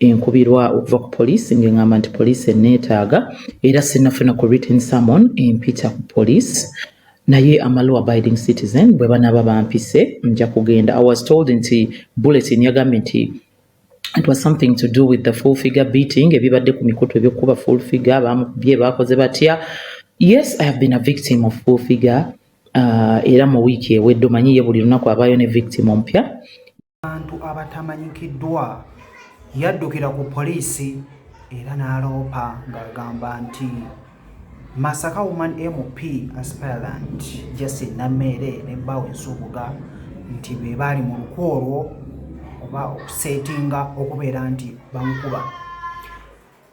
enkubirwa okuva ku poliisi ng'eŋŋamba nti poliisi enneetaaga era sinnafuna ku written summon empita ku poliisi naye amalu abiding citizen bwe banaaba bampise nja kugenda i was told nti bulletin yagambye nti it was something to do with the full figure beating ebibadde ku mikutu ebyokukuba full figure bamukubye baakoze batya yes i have been a victim of full figure uh, era mu wiiki ewedde omanyi ye buli lunaku abaayo ne victim ompya abantu abatamanyikiddwa yaddukira ku poliisi era n'aloopa ng'agamba nti Masaka Woman MP aspirant Justin Nameere ne bbaawe Nsubuga nti be baali mu luku olwo oba okuseetinga okubeera nti bamukuba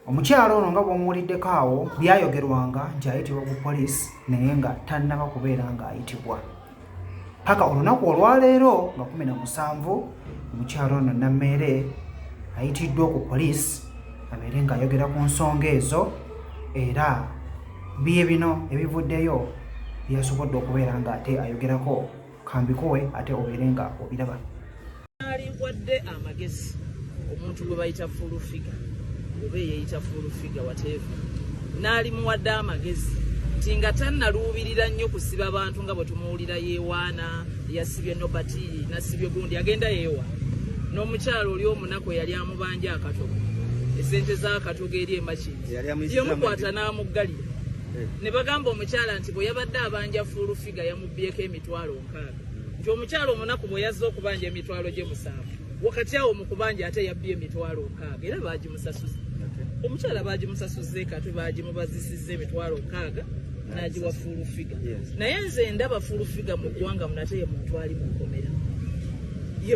Omukyala ono nga bw'omuwuliddeko awo byayogerwanga nti ayitibwa ku poliisi naye nga tannaba kubeera ng'ayitibwa paka olunaku olwaleero nga kumi na musanvu omukyala ono nammeere ayitiddwa ku poliisi abeere ng'ayogera ku nsonga ezo era bye bino ebivuddeyo byasobodde okubeera ng'ate ayogerako kambikowe ate obeere nga obiraba aliwadde amagezi omuntu gwe bayita fuulu figa oba eyeyita fuulu figa wateeva n'alimuwadde amagezi nti nga tannaluubirira nnyo kusiba bantu nga bwe tumuwulira yeewaana yasibye nobati nasibye gundi agenda yeewa n'omukyalo oli omunaku eyali amubanja akatogo esente z'akatogo eri emakini yemukwata n'amuggalira eh. ne bagamba omukyala nti bwe yabadde abanja fuulu Yiga yamubbyeko emitwalo nkaaga nti omukyala omunaku bwe yazze okubanja emitwalo gye musanvu wakati awo mu kubanja ate yabbye emitwalo nkaaga era baagimusasuza omukyala baagimusasuze kati baagimubazisizza emitwalo nkaaga n'agiwa fuulufiga naye nze ndaba fuulufiga mu ggwanga munate ye muntu ali mu nkomera ye